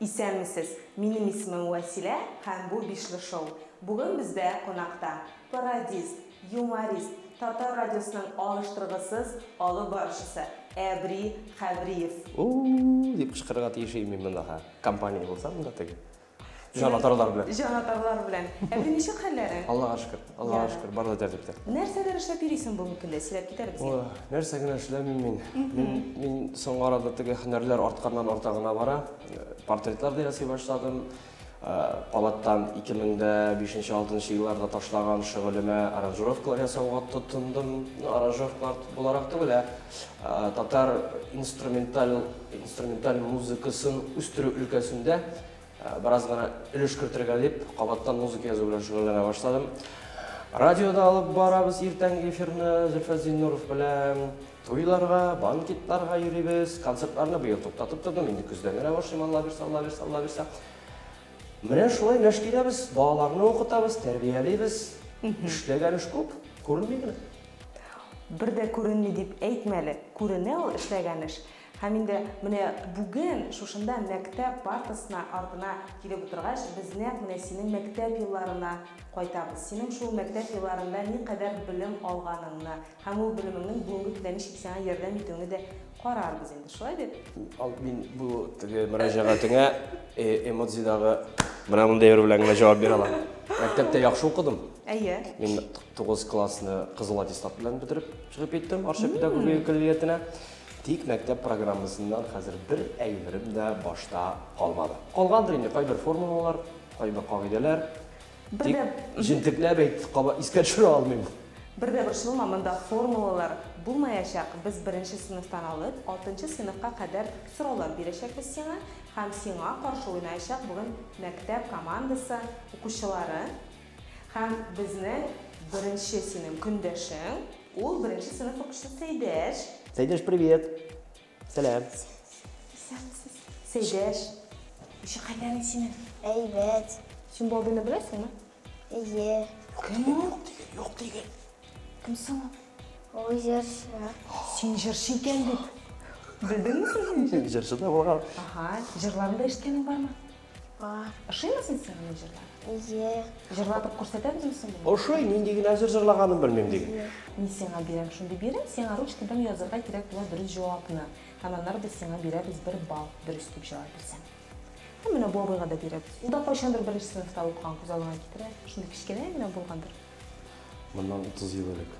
Исәнмесез, минем исемем Вәсилә һәм бу Бишле шоу. Бүген бездә кунакта, пародист, юморист, Татар радиосының алыштыргысыз алып баручысы Әбри Хәбриев. У-у-у! дип кычкырырга тиеш идем мин монда, һа? Компания булсам да теге. Җанатарлар белән. Җанатарлар белән. Ә бер ничек хәлләрең? Аллага шөкер. Аллага шөкер, бары да тәртиптә. Нәрсәләр эшләп йөрисең бүгенге көндә? Сөйләп кит әле безгә. Нәрсә генә эшләмим мин. Мин, мин соңгы арада теге һөнәрләр артканнан арта гына бара. Портретлар да ясый башладым. Калаттан 2005-2006 елларда ташлаган шөгылемә аранжировкалар ясауга тотындым. Ну, аранжировкалар буларак түгел, ә татар инструменталь Инструменталь музыкасын үстерү өлкәсендә бераз гына өлеш кертергә дип, кабаттан музыка язу белән шөгыльләнә башладым. Радиода алып барабыз иртәнге эфирны Зөлфәт Зиннуров белән. Туйларга, банкетларга йөрибез. Концертларны быел туктатып тордым, инде көздән генә башлыйм, Алла бирсә, Алла бирсә, Алла бирсә. Менә шулай мәш киләбез, балаларны укытабыз, тәрбиялибез. Эшләгән эш күп, күренми генә. Бер дә күренми дип әйтмә әле, күренә ул эшләгән эш. Һәм инде менә бүген шушында мәктәп партасына артына килеп утыргач, без нәкъ менә синең мәктәп елларына кайтабыз. Синең шул мәктәп елларында никадәр белем алганыңны һәм ул белемеңнең бүгенге көндә ничек сиңа ярдәм итүеңне дә Карарбыз инде, шулай бит? Ал, мин бу теге мөрәҗәгатеңә эмодзидагы менә мондый бер белән генә җавап бирә алам. Мәктәптә яхшы укыдым. Әйе. Мин 9 классны кызыл аттестат белән бетереп чыгып киттем Арча педагогия коллегиятенә. Тик мәктәп программасыннан хәзер бер әйберем дә башта калмады. Калгандыр инде кайбер формулалар, кайбер кагыйдәләр. Бер дә... Җентекләп әйт, кабат искә төшерә алмыйм. Бер дә борчылма, монда формулалар булмаячак. Без беренче сыйныфтан алып, алтынчы сыйныфка кадәр сораулар бирәчәкбез сиңа, һәм сиңа каршы уйнаячак бүген мәктәп командасы укучылары. Һәм безнең беренче синең көндәшең, ул беренче сыйныф укучысы Сәйдәш. Сәйдәш, привет! Сәлам. Исәнмесез. Сәйдәш. Ише хәлләрең синең? Әйбәт. Син бу абыйны беләсеңме? Әйе. Кем ул? Юк диген, юк диген. Кем соң ул? Ул җырчы. Син җырчы икән бит. Белдеңме син? Җырчы да булган. Аһа, җырларын да ишеткәнең бармы? Бар. Ошыймы син сиңа мин җырлар? Ие. Җырлатып күрсәтә безме соң? Ошый, нинди генә җыр җырлаганын белмим диген. Мин сиңа бирәм шундый бирем, сиңа ручкадан язырга кирәк була дөрес җавапны. Һәм аннары без сиңа бирәбез бер балл, дөрес дип җавап бирсәң. Һәм менә бу абыйга да бирәбез. Ул да кайчандыр беренче сыйныфта укыган, күз алдыңа китерә. Шундый кечкенә генә булгандыр. Моннан 30 ел элек.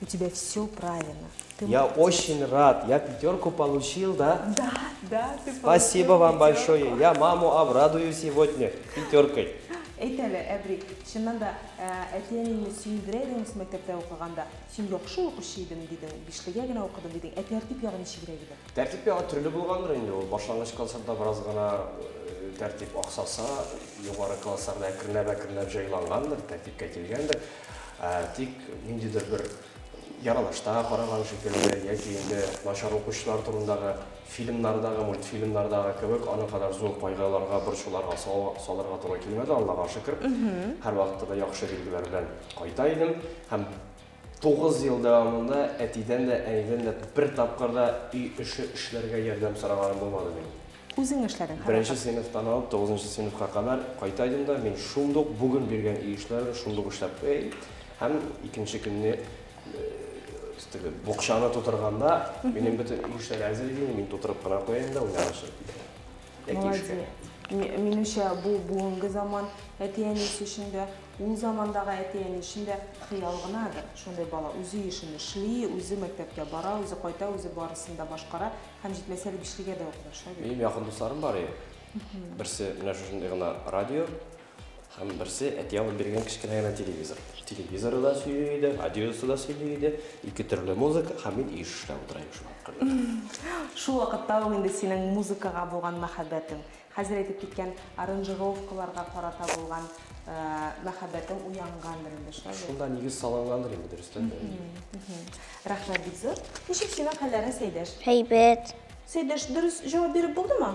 У тебя все правильно. Ты Я молодец. очень рад. Я пятерку получил, да? Да, да, ты Спасибо вам большое. Я маму обрадую сегодня пятеркой. Әйт әле, Әбри, чыннан да э, әти-әниеңне сөендерә идеңме мәктәптә укыганда? Син яхшы укучы идең дидең, биштәгә генә укыдым дидең. Ә тәртип ягы ничегрәк иде? Тәртип ягы төрле булгандыр инде ул. Башлангыч классларда бераз гына э, тәртип аксаса, югары классларда әкренләп-әкренләп җайлангандыр, тәртипкә килгәндер. Ә, тик ниндидер бер яралашта караган шикелле, яки инде начар укучылар турындагы фильмнардагы, мультфильмнардагы кебек, аны кадәр зур кайгыларга, борчуларга салырга туры килмәде, Аллага шөкер. Һәрвакытта да яхшы билгеләр белән кайта идем. Һәм 9 ел дәвамында әтидән дә, әнидән дә бер тапкыр да өй эше эшләргә ярдәм сораганым булмады минем. Үзең эшләдең, һәрвакыт. Беренче сыйныфтан алып тугызынчы сыйныфка кадәр кайта идем дә, мин шундук бүген биргән иешләрне шундук эшләп куя идем. Һәм икенче көнне теге букчаны тутырганда, минем бөтен иешләр әзер иде, мин тутырып кына куя идем дә уйнарга чыгып китә. Яки эшкә. Минемчә, бу бүгенге заман әти-әнисе өчен дә, ул замандагы әти-әни өчен дә хыял гынадыр. Шундый бала үзе ешен эшли, үзе мәктәпкә бара, үзе кайта, үзе барысын да башкара. Һәм җитмәсә әле бишлегә дә укмаша бит. Минем якын дусларым бар иде. Берсе менә шушындый гына радио, һәм берсе әти алып биргән кечкенә генә телевизор. Телевизоры да сөйли иде, радиосы да сөйли иде, ике төрле музыка, һәм мин еш эшләп утыра идем шул аркылы. Шул вакытта ук инде синең музыкага булган мәхәббәтең, Хәзер әйтеп киткән аранжировкаларга карата булган мәхәббәтең уянгандыр инде, шулай бит? Шунда нигез салынгандыр инде, дөрестән дә. Рәхмәт, бик зур. Ничек синең хәлләрең, Сәйдәш? Әйбәт. Сәйдәш, дөрес җавап биреп булдымы?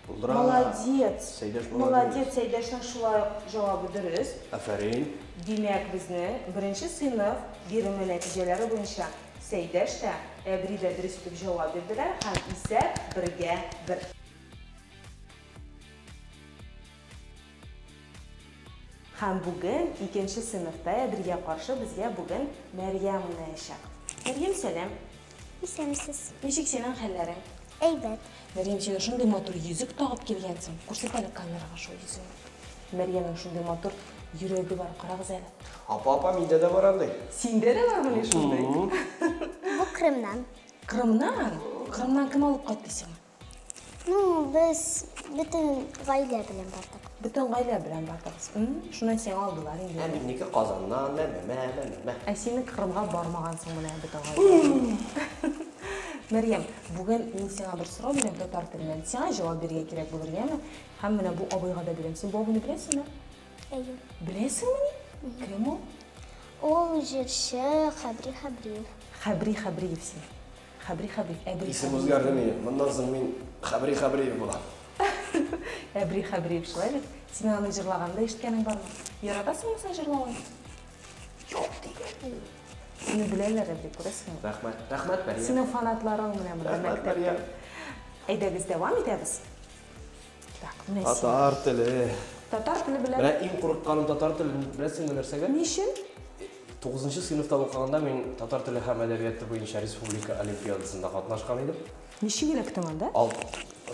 Булдыра. Молодец. Сәйдәш булды. Молодец, Сәйдәшнең шулай ук җавабы дөрес. Афәрин. Димәк, безнең беренче сыйныф биреме нәтиҗәләре буенча Сәйдәш тә, Әбри дә дөрес итеп җавап бирделәр һәм исәп бергә бер. Һәм бүген икенче сыйныфта Әбелгә каршы безгә бүген Мәрьям уйнаячак. Мәрьям, сәлам! Исәнмесез! Ничек синең хәлләрең? Әйбәт. Мәрьям, син шундый матур йөзек тагып килгәнсең. Күрсәт әле камерага шул йөзегеңне. Мәрьямнең шундый матур йөрәге бар, карагыз әле. Апа, апа, миндә дә бар андый. Синдә дә бармыни шундый? Бу Крымнан. Крымнан? Крымнан кем алып кайтты сиңа? Ну, без бөтен гаилә белән бардык. Бөтен гаилә белән бардыгыз. Шуннан сиңа алдылар инде. Ә минеке Казаннан, мә, мә, мә, мә, мә, мә. Ә синең Кырымга бармагансың менә бөтен гаилә. Мәрьям, бүген мин сиңа бер сорау бирәм татар теленнән. Сиңа җавап бирергә кирәк булыр, яме? Һәм менә бу абыйга да бирәм. Син бу абыйны беләсеңме? Әйе. Беләсеңмени? Кем ул? Ул җырчы Хәбри Хәбриев. Хәбри Хәбриев син. Хәбри Хәбриев, Әбри Хәбриев. Исем үзгәрде ни, моннан соң мин Хәбри Хәбриев булам. Әбри Хәбриев, шулай бит? Синең аны җырлаганыңда ишеткәнең бармы? Яратасыңмы син җырлавын? Юк дигән. Сине беләләр, Әбри, күрәсеңме? Рәхмәт. Рәхмәт, Мәрия. Синең фанатларың менә монда мәктәптә. Рәхмәт, Мәрия. Әйдәгез, дәвам итәбез. Так, менә син. Татар теле. Татар теле белән. Менә иң курыкканым татар теле, беләсеңме нәрсәгә? Ни өчен? Тугызынчы сыйныфта укыганда мин татар теле һәм әдәбияты буенча республика олимпиадасында катнашкан идем. Ничек эләктең анда? Ал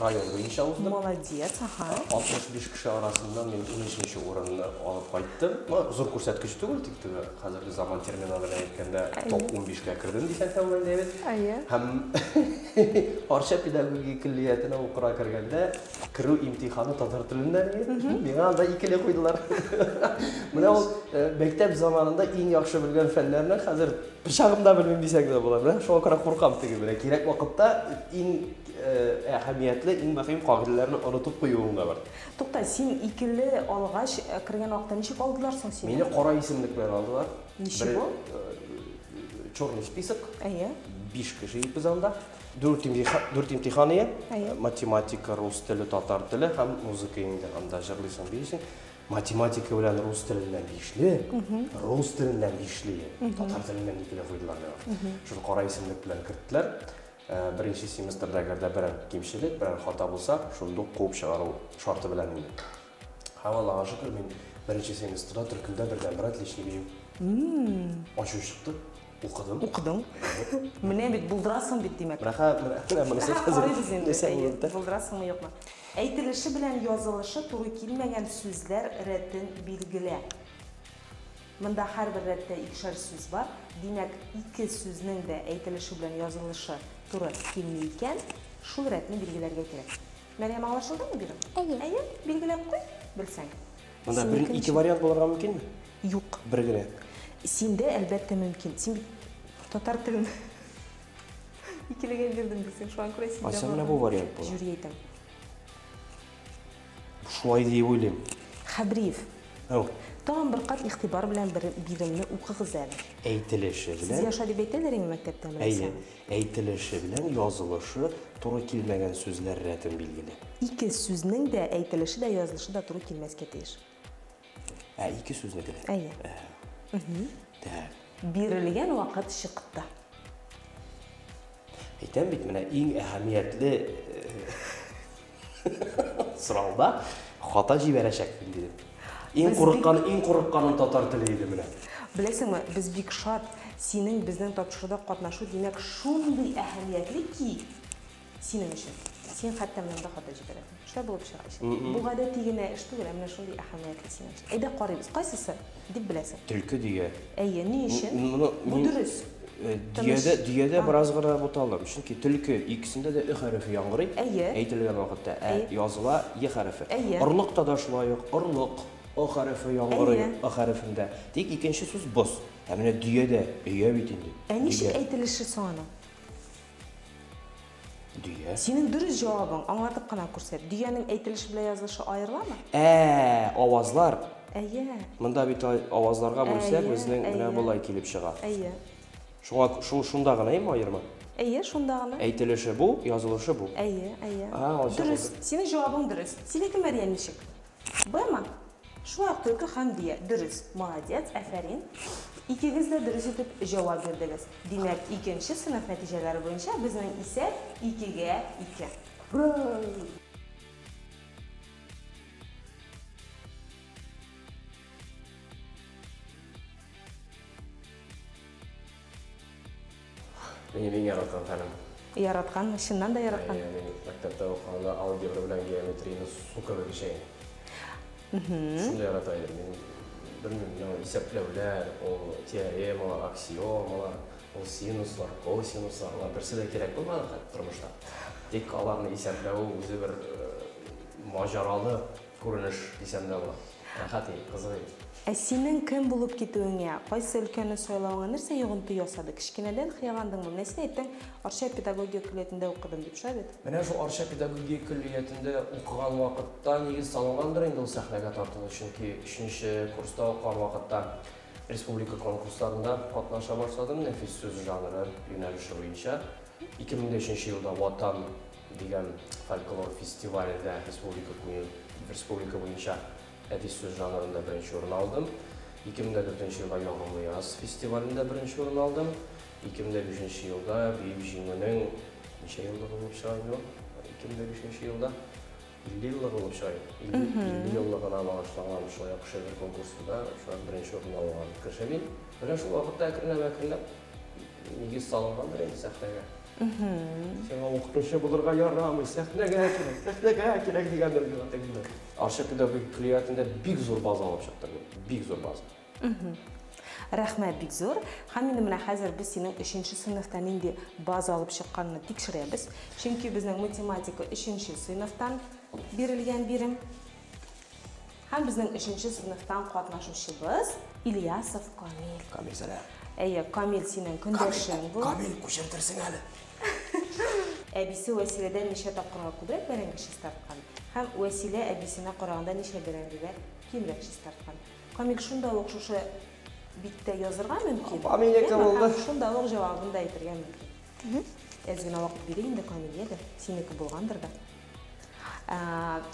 район буенча уздым. Молодец, ага. 65 кеше арасыннан мин унөченче урынны алып кайттым. Ну, зур күрсәткеч түгел, тик теге Хәзерге заман термины белән әйткәндә, топ 15-кә кердем дисәң дә уңай, Дэвид. Әйе. Һәм Арча педагогия көллиятенә укырга кергәндә, керү имтиханы татар теленнән иде. Миңа анда икеле куйдылар. Менә ул э, мәктәп заманында иң яхшы белгән фәннәрне хәзер пычагым да белмим дисәң дә була. Менә шуңа күрә куркам теге белән. Кирәк вакытта иң э, әһәмиятле, иң мөһим кагыйдәләрне онытып куюың да бар. Тукта, син икеле алгач, кергән вакытта ничек алдылар соң сине? Мине кара исемлек белән алдылар. Ничего? Черный список. Әйе. Биш кеше ипез анда. Дүрт имтихан, дүрт имтихан ие. Математика, рус теле, татар теле һәм музыка инде. Анда җырлыйсың, биисең. Математика белән рус теленнән бишле, рус теленнән бишле, татар теленнән икеле куйдылар миңа. Шул кара исемлек белән керттеләр. Беренче семестрда әгәр дә берәр кимчелек, берәр хата булса, шундук куып чыгару шарты белән инде. Һәм Аллага шөкер, мин беренче семестрда төркемдә бердәнбер отличник җыеп. Ачу чыкты, укыдым. Укыдың. Менә бит, булдырасың бит, димәк. Рәхәт, менә монысы хәзер. Әһә, карыйбыз инде, әйе, булдырасыңмы, юкмы. Әйтелеше белән язылышы туры килмәгән сүзләр рәтен билгелә. Монда һәрбер рәттә икешәр сүз бар, димәк, ике сүзнең дә әйтелеше белән язылышы туры килми икән, шул рәтне билгеләргә кирәк. Мәрьям, аңлашылдымы бирем? Әйе. Әйе, билгеләп куй, белсәң. Монда бер, Синекен ике бариант булырга мөмкинме? Юк. Бер генә. Синдә, әлбәттә, мөмкин. Син бит татар телен икелегә бирдем дисең, шуңа күрә синдә бар. Ә сәмнә бу вариант була. Жюри әйтәм. Шулай диеп уйлыйм. Хәбриев. Әу. Тагын бер кат игътибар белән бер биремне укыгыз әле. Әйтелеше белән. Сезгә шулай дип әйтәләр инде мәктәптә, Әйе. Әйтелеше белән язылышы туры килмәгән сүзләр рәтен билгелә. Ике сүзнең дә әйтелеше дә, язылышы да туры килмәскә тиеш. Ә, ике сүзнеке дә. Әйе. Так. Бирелгән вакыт чыкты. Әйтәм бит, менә иң әһәмиятле э, сорауда хата җибәрәчәкмен дидем. Иң Без курыккан, иң курыкканым татар теле иде менә. Беләсеңме, без бик шат. Синең безнең тапшыруда катнашу, димәк, шундый әһәмиятле ки, Синең өчен. Син хәтта менә монда хата җибәрәсең. Эшләр булып чыга ичәк. Бу гадәти генә эш түгел, ә менә шундый әһәмиятле синең өчен. Әйдә карыйбыз, кайсысы дип беләсең? Төлке дөя. Әйе, ни өчен? Бу дөрес. Дөядә, дөядә бераз гына буталдым, чөнки төлке икесендә дә ө хәрефе яңгырый. Әйе. Әйтелгән вакытта ә языла е хәрефе. Әйе. Орлыкта да шулай ук орлык о хәрефе яңгырый ы хәрефендә. Тик икенче сүз боз. Ә менә дөядә, өя бит инде. Ә ничек әйтелеше соң аның? Дөя. Синең дөрес җавабың, аңлатып кына күрсәт. Дөянең әйтелеше белән язылышы аерыламы? Ә, авазлар. Әйе. Монда бит авазларга бүлсәк, безнең менә болай килеп чыга. Әйе. Шуңа шул шунда гына ем аерма? Әйе, шунда гына. Әйтелеше бу, язылышы бу. Әйе, әйе. Дөрес. Синең җавабың дөрес. Синеке, Мәрьям, ничек? Бмы? Шулай ук төрке Хәмдия, дөрес, молодец, әфәрин. Икегез дә дөрес итеп җавап бирдегез. Димәк, икенче сыйныф нәтиҗәләре буенча безнең исәп икегә ике. Брауу! Минем иң яраткан фәнем. Яраткан, чыннан да яраткан. Әйе, мин мәктәптә укыганда алгебра белән геометрияне су кебек эчә идем. Шундый ярата идем. Мин белмим, исәпләүләр, ул теоремалар, аксиомалар, ул синуслар, косинуслар, алар берсе дә кирәк булмады тормышта. Тик аларны исәпләве үзе бер маҗаралы Күренеш дисәм дә була. Рәхәт ил, кызык ил. Ә синең кем булып китүеңә, кайсы өлкәне сайлавыңа нәрсә йогынты ясады? Кечкенәдән хыялландыңмы? Менә син әйттең, Арча педагогия көллиятендә укыдым дип, шулай бит? Менә шул Арча педагогия көллиятендә укыган вакытта нигез салынгандыр инде ул сәхнәгә тартылу, чөнки өченче курста укыган вакытта республика конкурсларында катнаша башладым, нәфис сүз жанры юнәлеше буенча. 2005 нче елда Ватан дигән фольклор фестивалендә республика буе, республика буенча әдип сүз жанрында беренче урын алдым. 2004 елда Ягымлы яз фестивалендә беренче урын алдым. 2005 елда Бөек Җиңүнең ничә еллыгы булып чыга инде ул? 2005 елда 50 еллыгы ул чай. 50 еллыгына багышланган шулай ук шигырь конкурсында шулай ук беренче урынны алган Кершәвил. Менә шул вакытта әкренләп-әкренләп нигез салынгандыр инде сәхнәгә. Сиңа укытучы булырга ярамый, сәхнәгә кирәк, сәхнәгә кирәк дигәндер инде. Арча педагогик көллиятендә бик зур база алып чыктым мин, бик зур база. Рәхмәт бик зур. Һәм инде менә хәзер без синең өченче сыйныфта нинди база алып чыкканны тикшерәбез. Чөнки безнең математика өченче сыйныфтан бирелгән бирем. Һәм безнең өченче сыйныфтан катнашучыбыз Ильясов Камил. Камил, сәлам. Әйе, Камил синең көндәшең бу. Камил, күчентерсең әле. Әбисе Вәсиләдән ничә тапкырга күбрәк бәрәңге чистарткан? Һәм Вәсилә әбисенә караганда ничә бәрәңгегә кимрәк чистарткан? Камил шунда ук шушы биттә язырга мөмкин. Камил яки булды. Шунда ук җавабын да әйтергә мөмкин. Әз генә вакыт бирик инде Камилгә дә, синеке булгандыр да.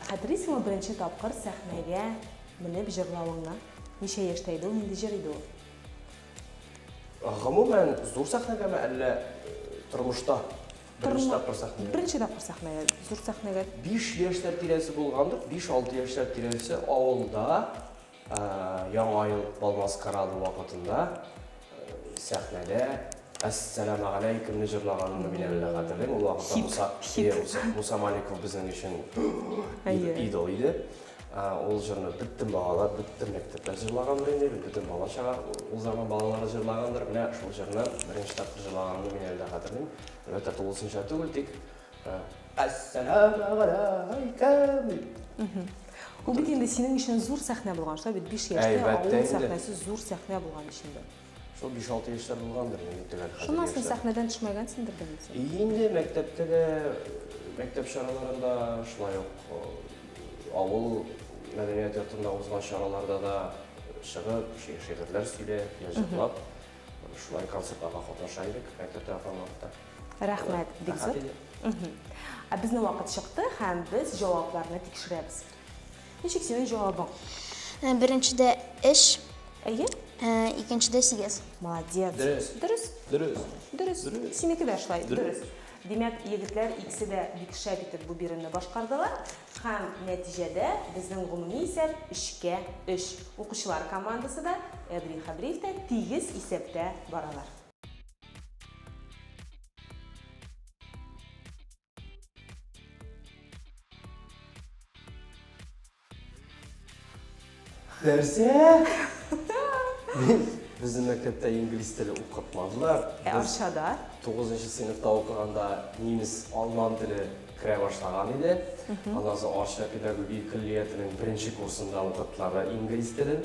Хәтерлисеңме беренче тапкыр сәхнәгә менеп җырлавыңны? Ничә яшьтә иде ул, нинди җыр иде ул? Гомумән, зур сәхнәгәме, әллә тормышта? Беренче тапкыр сәхнәгә. Беренче тапкыр сәхнәгә, зур сәхнәгә. Биш яшьләр тирәсе булгандыр, биш-алты яшьләр тирәсе авылда Яңа ел бал-маскарады вакытында сәхнәдә Әссәламәгаләйкүмне җырлаганымны мин әле дә хәтерлим. Ул вакытта Муса Маликов безнең өчен идол иде. Ул җырны бөтен балалар, бөтен мәктәпләр җырлагандыр инде бит, бөтен бала-чага, ул заман балалары җырлагандыр. Менә шул җырны беренче тапкыр җырлаганымны мин әле дә хәтерлим. Әлбәттә, тулысынча түгел, тик Әссәләмәгаләйкем! Ул бит инде синең өчен зур сәхнә булган, шулай бит, биш яшьтә авыл сәхнәсе зур сәхнә булган өчен дә. Шул 5-6 яшьләр булгандыр инде төгәл хәзер. Шуннан соң сәхнәдән төшмәгәнсеңдер дә инде. Инде мәктәптә дә, мәктәп чараларында шулай ук э, авыл мәдәният йортында узган чараларда да чыгып, шигырьләр сөйләп, җырлап, шулай концертларга катнаша идек мәктәптә торган вакытта. Рәхмәт, бик зур. Ә безнең вакыт чыкты һәм без җавапларны тикшерәбез. Ничек синең җавабың? Э, беренчедә эш. Әйе. Э, икенчедә сигез. Молодец. Дөрес. Дөрес. Дөрес. Дөрес. Дөрес. Синеке дә шулай. Дөрес. Димәк, егетләр икесе дә бик шәп итеп бу биремне башкардылар. Һәм нәтиҗәдә безнең гомуми исәп өчкә өч. Укучылар командасы да, Әбри Хәбриев тә тигез исәптә баралар. Нәрсә? Безне мәктәптә инглиз теле укытмадылар. Ә Арчада? 9 сыйныфта укыганда немец алман теле керә башлаган иде. Аннан соң Арча педагогия көллиятенең беренче курсында укыттылар да инглиз телен.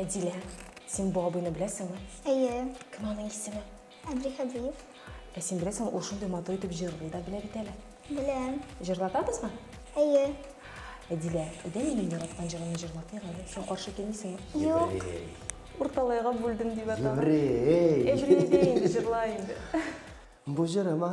Әдилә, син бу абыйны беләсеңме? Әйе. Кем аның исеме? Әбдихәбиев. Ә син беләсеңме, ул шундый матур итеп җырлый да белә бит әле. Беләм. Җырлатабызмы? Әйе. Әдилә, әйдә минем яраткан җырымны җырлатыйк әле. Син каршы килмисеңме? Юк. Урталайга бүлдем дип атала. Еврей! Еврей дә инде җырлай инде. Бу җырыма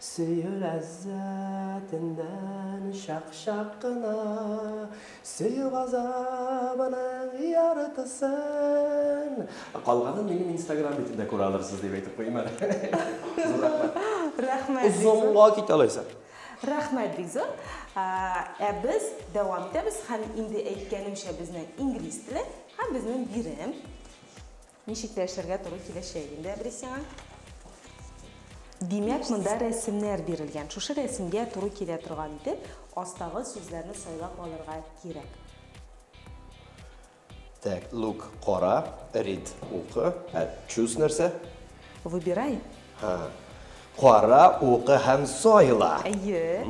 Сөю ләззәтеннән чак-чак кына, Сөю газабының яртысын. Калганын минем инстаграм битендә күрә алырсыз, дип әйтеп куйыйм әле. Зур рәхмәт. Рәхмәт бик зур. Озынга китә алайса. Рәхмәт бик зур. Ә без дәвам итәбез һәм инде әйткәнемчә безнең инглиз теле һәм безнең бирем. Ничек тә эшләргә туры киләчәк инде, әбри, сиңа. Димәк, монда рәсемнәр бирелгән. Шушы рәсемгә туры килә торган итеп, астагы сүзләрне сайлап алырга кирәк. Так, look, кара, read, укы, ә choose нәрсә? Выбирай. Ха. Кара, укы һәм сайла. Әйе.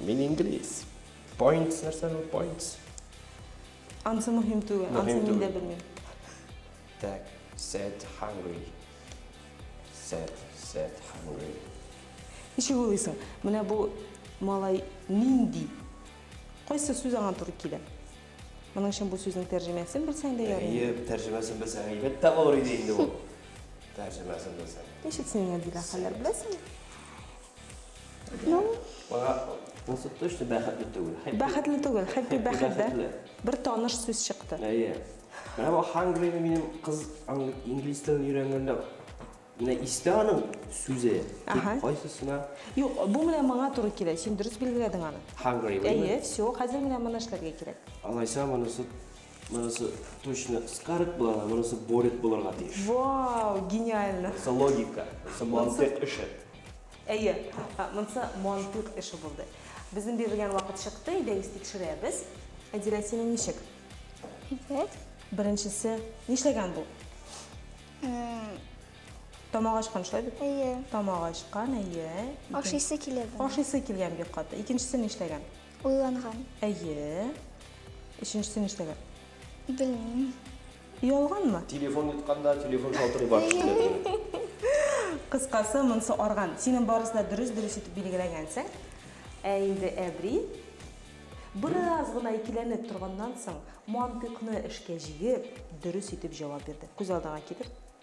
Мин инглиз. Points нәрсә бу? Points. Ансы мөһим түгел, ансы Мөһим мин дә түгел. белмим. Так, set hungry. Set, set hungry. Ничек уйлыйсың, менә бу малай нинди? Кайсы сүз аңа туры килә? Моның өчен бу сүзнең тәрҗемәсен белсәң дә ярый. Әйе, тәрҗемәсен белсәң әйбәт тә булыр иде инде бу. Тәрҗемәсен белсәң. Ничек син Гадилә хәлләр беләсеңме? Ну, Бага насып точно бәхетле түгел. Хәппи- бәхетле түгел, хәппи Хәппи, бәхет дә. бәхетле. Бер таныш сүз чыкты. Әйе. Менә бу Hungry ны минем кыз ан- инглиз телен өйрәнгәндә менә истә аның сүзе. Тик Аһа. Кайсысына Юк, бу менә моңа туры килә. Син дөрес билгеләдең аны. Hungry Әйе, булмы? все, хәзер менә моны эшләргә кирәк. Алайса монысы Монысы точно скарык була, монысы борик булырга тиеш. Вау, гениально. Монысы логика, монысы мантык эше. Әйе, монысы мантык эше булды. Безнең бирелгән вакыт чыкты, әйдәгез тикшерәбез. Әдирә, синең ничек? Икәт. Беренчесе нишләгән бу? Тамак ачкан шулай бит? Әйе. Тамак ачкан, әйе. Ашыйсы килә бу. Ашыйсы килгән бик каты. Икенчесе нишләгән? Уйланган. Әйе. Өченчесе ништәгән? Белмим. Оялганмы? Телефон йотканда, телефон шалтырый бар төшендә. Кыскасы, монысы арган. Синең барысы да дөрес, дөрес итеп билгеләгәнсең. Ә инде әбри, бераз гына икеләнеп торганнан соң, мантыйкны эшкә җигеп, дөрес итеп җавап бирде. Күз алдыңа китер.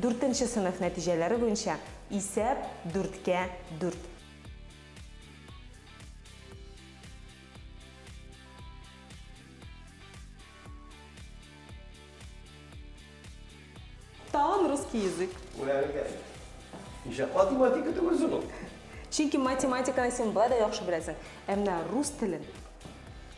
Дүртенче сыйныф нәтиҗәләре буенча исәп, дүрткә дүрт. Тагын русский язык. Үгәрелгән. Ничә кат математика түгелсең ул? Чөнки математиканы син болай да яхшы беләсең. Ә менә рус телен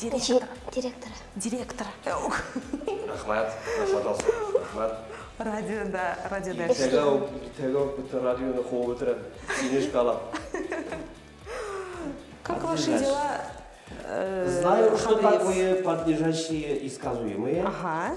Директор. Директор. Директор. Рахмат. Рахмат. Радиода, радиода. Иртәгә үк, иртәгә үк бөтен радионы куып бетерәм. Сине эшкә алам. Как ваши дела? Э, Знаю, что такое подлежащие и сказуемые. Ага.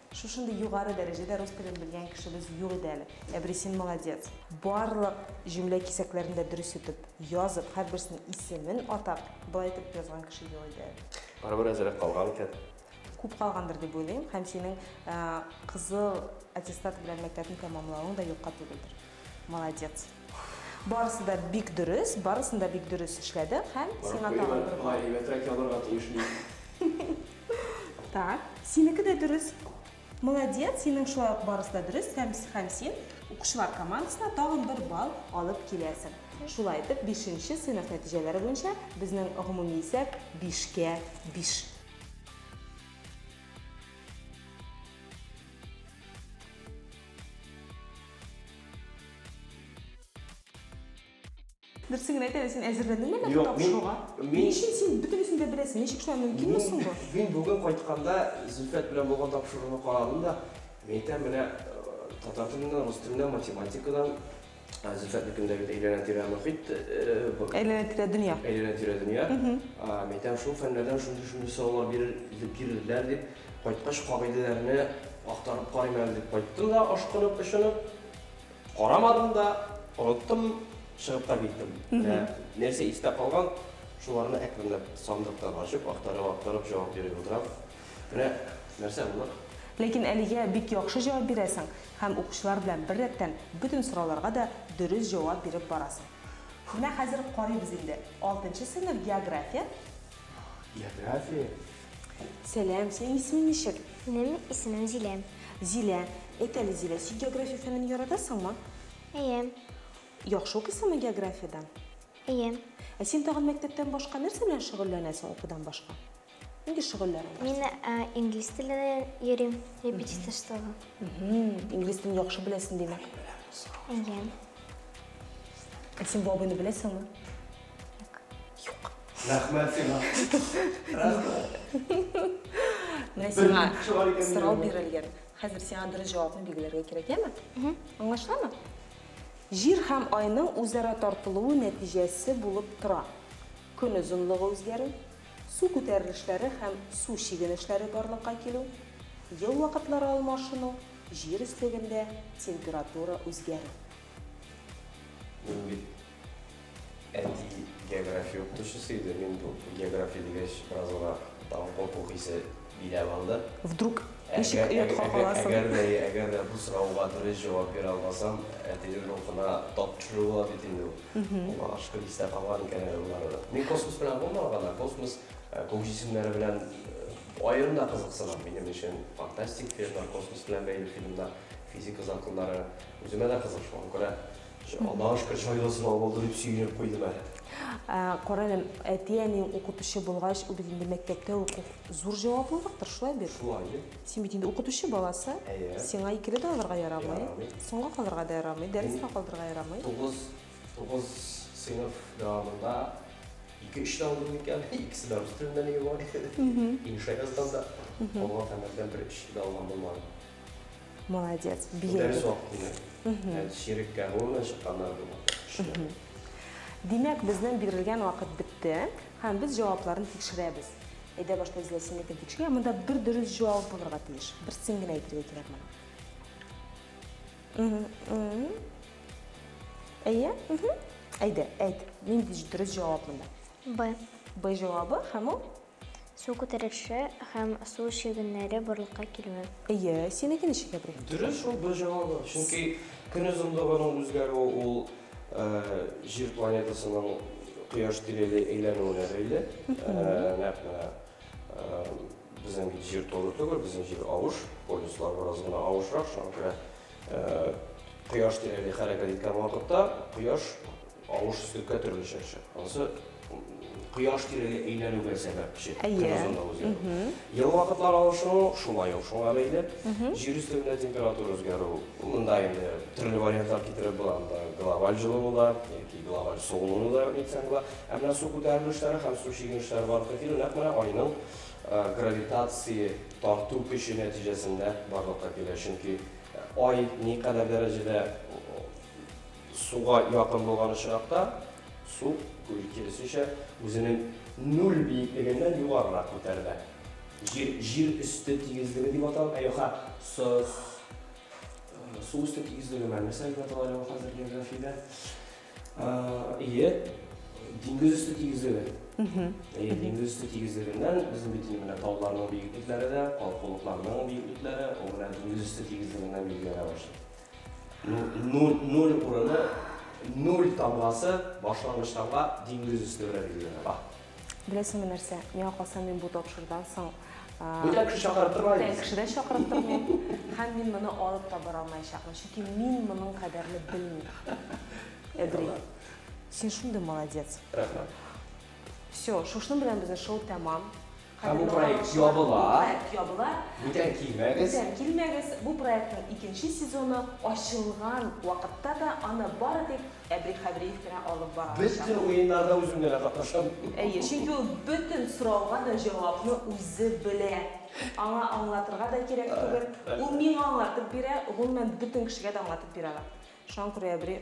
Шушындый югары дәрәҗәдә рус телен белгән кешебез юк иде әле. Әбри, син молодец! Барлык җөмлә кисәкләрен дә дөрес итеп язып, һәрберсенең исемен атап, болай итеп язган кеше юк иде әле. Барыбер әзрәк калган икән. Күп калгандыр дип уйлыйм һәм синең кызыл аттестат белән мәктәпне тәмамлавың да юкка түгелдер. Молодец. Барысы да бик дөрес, барысын да бик дөрес эшләдең һәм сиңа тагын бер балл. Әйбәтрәк язарга тиеш мин. Так, синеке дә дөрес. Молодец, синең шулай ук барысы да дөрес һәм һәм син укучылар командасына тагын бер балл алып киләсең. Шулай итеп, бишенче сыйныф нәтиҗәләре буенча безнең гомуми исәп бишкә биш. Дөресен генә әйтә, син әзерләндеңме әллә Юк, мин- тапшыруга? мин- Ни өчен син бөтенесен дә беләсең? Ничек шулай мөмкин Мин, соң бу? мин бүген кайтканда Зөлфәт белән булган тапшыруны карадым да, мин әйтәм, менә э, татар теленнән, рус теленнән, математикадан Зөлфәтнекендәге әйләнә-тирә мохит. Әйләнә-тирә дөнья. Әйләнә-тирә дөнья. Мәйтәм, шул фәннәрдән шундый-шундый сораулар бирелделәр дип, кайткач кагыйдәләрне актарып карыйм әле дип кайттым да, ашкынып, очынып. Карамадым да, оныттым, чыгып та киттем. Менә нәрсә истә калган, шуларны әкренләп сандыктан ачып, актарып-актарып җавап биреп утырам. Менә нәрсә булыр? Ләкин әлегә бик яхшы җавап бирәсең һәм укучылар белән бер рәттән бөтен сорауларга да дөрес җавап биреп барасың. Менә хәзер карыйбыз инде. Алтынчы сыйныф география. География. Сәлам, синең исемең ничек? Минем исемем Зилә. Зилә. Әйт әле, Зилә, син география фәнен яратасыңмы? Әйе. Яхшы укыйсыңмы географиядән? Әйе. Ә син тагын мәктәптән башка нәрсә белән шөгыльләнәсең укудан башка? Нинди шөгыльләрең бар? Мин ә, инглиз теленә йөрим, репетиторствога. Мгм. Инглиз телен яхшы беләсең, димәк. Әйе. Гөлсем бабыйны беләсеңме? Юк. Рәхмәт сиңа. Менә сиңа сорау бирелгән. Хәзер сиңа дөрес җавапны билгеләргә кирәк, яме? Аңлашыламы? Җир һәм айның үзара тартылуы нәтиҗәсе булып тора. Көн озынлыгы үзгәрү, су күтәрелешләре һәм су чигенешләре барлыкка килү, ел вакытлары алмашыну, җир өслегендә температура үзгәрү. Мин бит әти география укытучысы иде, мин бу география дигәч бераз гына тагын курку хисе Минә балда. Вдруг ничек оятка каласың? Әгәр дә, әгәр дә бу сорауга дөрес җавап бирә алмасам, әтинең рухына тапшыру була бит инде ул. Аңа ашкын истә калган икән әле болары да. Мин космос белән булмаган гына, космос, күк җисемнәре белән аерым да кызыксынам. Минем өчен фантастик фильмнар, космос белән бәйле фильмнар, физика законнары үземә дә кызык, шуңа күрә Аллашка, чай да сылау булды, дип сөенеп куйдым әле. Кара әле, әти-әниең укытучы булгач, ул бит инде мәктәптә уку зур җаваплылыктыр, шулай бит? Шулай бит. Син бит инде укытучы баласы. Әйе. Сиңа икеле дә алырга ярамый. Ярамый. Соңга калырга да ярамый, дәрескә калдырырга ярамый. Тугыз, тугыз сыйныф дәвамында ике-өч тә алдым икән, икесе дә рус теленнән иде бугай. Инша язганда. Калган фәннәрдән бер-өч дә алган булмады. Молодец, бия. Дәрес вакытында. Һәм ширеккә булган чыкканнар булган. Димәк, безнең бирелгән вакыт бетте, һәм без җавапларын тикшерәбез. Әйдә башта без ләсенлекне тикшерә, монда бер дөрес җавап булырга тиеш. Берсен генә әйтергә кирәк моны. Әйе? Әйдә, әйт. Нинди дөрес җавап монда? Б. Б җавабы һәм ул Су күтәреше һәм су чөгеннәре барлыкка килүе. Әйе, синеке ничек, Әбри? Дөрес шул, бер җавабы. Чөнки Көн озынлыгының үзгәрүе ул Җир планетасының Кояш тирәли әйләнүенә бәйле. Нәкъ менә безнең бит Җир туры түгел, безнең Җир авыш, полюслар бераз гына авышрак, шуңа күрә Кояш тирәли хәрәкәт иткән вакытта Кояш Авыш сөткә төрле чәкчә. Анысы кояш тирәли әйләнүгә сәбәпче, көн озынлыгы үзгәрү. Ел вакытлар авышуы шулай ук шуңа бәйле. Җир өстендә температура үзгәрү, монда инде төрле вариантлар китереп була, монда глобаль җылыну да, яки глобаль суыну да әйтсәң була. Ә менә су күтәрелешләре һәм су чигенешләре барлыкка килү нәкъ менә Айның гравитация тарту көче нәтиҗәсендә барлыкка килә, чөнки Ай никадәр дәрәҗәдә Суга якын булган очракта су, күл, киресенчә, үзенең нуль биеклегеннән югарырак күтәрелә. Җир, җир өсте тигезлеге дип атала. Ә юкса, су, су өсте тигезлеге менә нәрсә дип атала әле ул хәзер географиядә? Ие, диңгез өсте тигезлеге. Ие, диңгез өсте тигезлегеннән безнең бит инде менә тауларның биеклекләре дә, калкулыкларның биеклекләре, ул менә диңгез өсте тигезлегеннән билгеләнә башлый. Нуль, нуль урыны, нуль тамгасы башлангыч тамга диңгез өсте белән билгеләнә. Ба. Беләсеңме нәрсә, миңа калса мин бу тапшырдан соң Бүтән кеше чакырып тормай. Бүтән кеше дә чакырып тормыйм. Һәм мин моны алып та бара алмаячакмын, чөнки мин моның кадәрне белмим. Эдри. Син шундый молодец. Рәхмәт. Всё, шушның белән безнең шоу тәмам. Һәм бу проект ябыла. Бу проект ябыла. Бүтән килмәгез. Бүтән килмәгез. Бу проектның икенче сезоны ачылган вакытта да аны бары тик Әбри Хәбриев кенә алып бара алачак. Бөтен уеннарда үзем генә катнашам. Әйе, чөнки ул бөтен сорауга да җавапны үзе белә. Аңа аңлатырга да кирәк түгел. Ул миңа аңлатып бирә, гомумән, бөтен кешегә дә аңлатып бирә ала. Шуңа күрә Әбри.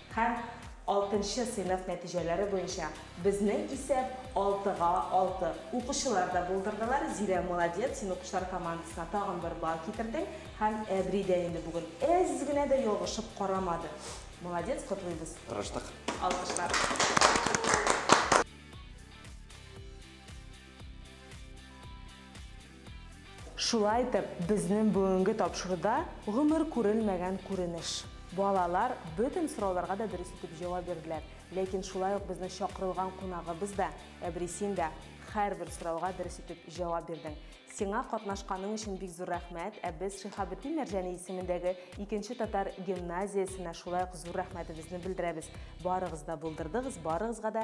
Һәм алтынчы сыйныф нәтиҗәләре буенча безнең исәп алтыга алты. Укучылар да булдырдылар. Зилә, молодец, син укучылар командасына тагын бер балл китердең. Һәм әбри дә инде бүген әз генә дә ялгышып карамады. Молодец, котлыйбыз. Тырыштык. Алкышлар. Шулай итеп, безнең бүгенге тапшыруда гомер күрелмәгән күренеш. Балалар бөтен сорауларга да дөрес итеп җавап бирделәр. Ләкин шулай ук безнең чакырылган кунагыбыз да, әбри син дә һәрбер сорауга дөрес итеп җавап бирдең. Сиңа катнашканың өчен бик зур рәхмәт, ә без Шиһабетдин Мәрҗани исемендәге икенче татар гимназиясенә шулай ук зур рәхмәтебезне белдерәбез. Барыгыз да булдырдыгыз, барыгызга да